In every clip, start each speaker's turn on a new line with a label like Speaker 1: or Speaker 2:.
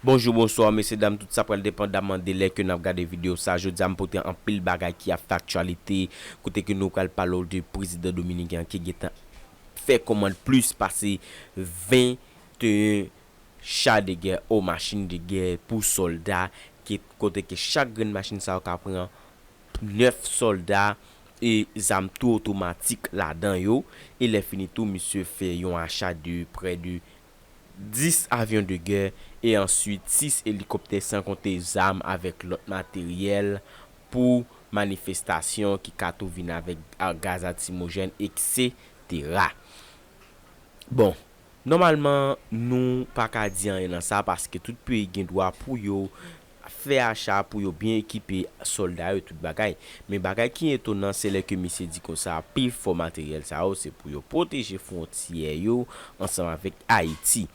Speaker 1: Bonjou bonswa mesye dam tout sa pral depandaman de lè ke nap gade video sa jodia m pote anpil bagay ki ap fè aktyalite kote ke nou pral pale w de prezidan dominiken an ki gentan fè kòmand plis pase 21 cha de gè ou machin de gè pou sòlda ke kote ke chak grenn machin sa yo ka pran 9 sòlda e zam tou otomatik ladan yo e lè fini tou misye fè yon acha de prè de 10 avyon de gè e answit 6 elikoptè san konte zam avèk lòt materyèl pou manifestasyon ki ka tou vin avèk gaz atimojèn eksetera. Bon, nòmalman nou pa ka di anyen nan sa paske tout peyi gen dwa pou yo fè acha pou yo byen ekipe sòlda yo tout bagay. Men bagay ki etonan se lè ke misye di konsa pi fò materyèl sa yo se pou yo pwoteje fwontyè yo ansanm avèk Ayiti.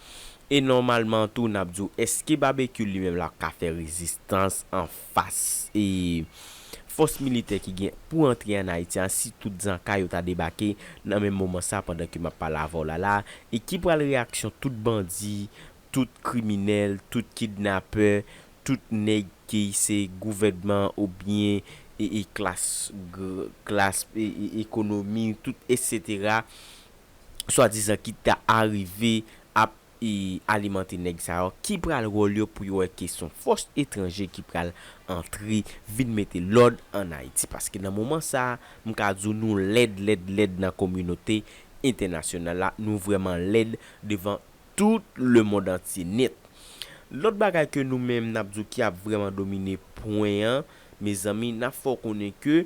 Speaker 1: E nòmalman tou n ap di w èske Babekyou li menm l ap ka fè rezistans an fas e fòs militè ki gen pou antre an Ayiti a si tout zanka yo ta debake nan menm moman sa pandan ke m ap pale avè w la la e ki pral reyaksyon tout bandi Tout kriminel, tout kidnapè, tout neg ki se gouvènman ou byen klas klas ekonomi tout etc. Swa dizan ki ta arive ap alimante neg sa yo ki pral rol yo pou yo wè ke son fos etranje ki pral antre vin mete lod an Ayiti. Paske nan moman sa m ka di w nou lèd lèd lèd nan kominote entènasyonal la, nou vreman lèd devan Tout lemond antye nèt. Lòt bagay ke nou menm nap di w ki ap vrèman domine pwen an, mezanmi nap fè w konnen ke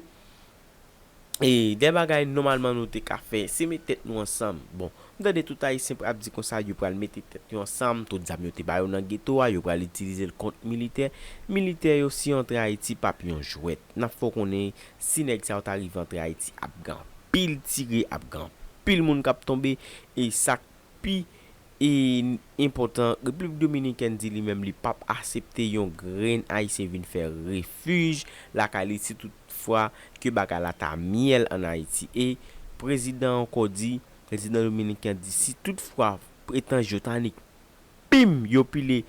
Speaker 1: e dè bagay nòmalman nou te ka fè, se met tèt nou ansanm. Bon, m tande tout Ayisyen pral di konsa yo pral mete tèt yo ansanm, tout zam yo te ba yo nan geto a, yo pral itilize l kont militè. Militè yo si yo antre Ayiti pap yon jwèt. Nap fè w konnen si nèg sa yo ta rive antre Ayiti ap gen anpil tire, ap gen anpil moun kap tonbe e sak pi enpòtan, Repiblik Dominikèn di li menm li p ap asepte yon grenn Ayisyen vin fè refij lakay li si tout fwa ke bagay la ta myèl an Ayiti. E prezidan ankò di, prezidan dominiken an di si tout fwa etanj yo ta nik Pim! Yo pile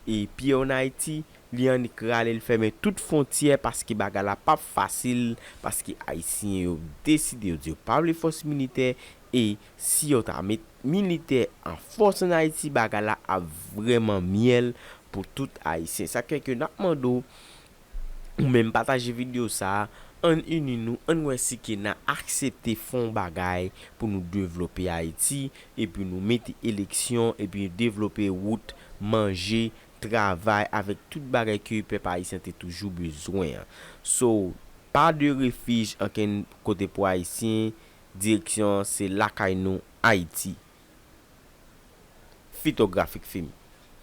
Speaker 1: e pye an Ayiti, li annik rale l fèmen tout fontyè paske bagay la pap fasil paske Ayisyen yo deside yo di yo pa vle fòs militè e si yo ta met militè an fòs an Ayiti bagay la ap vrèman myèl pou tout Ayisyen. Sa k fè ke n ap mande w Ou menm pataje video sa ann ini nou ann wè si kena aksepte fè yon bagay pou nou devlope ayiti epi nou mete eleksyon epi devlope wout manje travay avèk tout bagay ke pèp ayisyen te toujou bezwen an so pa de refij ankenn kote pou ayisyen direksyon an se lakay nou ayiti fitografik fim.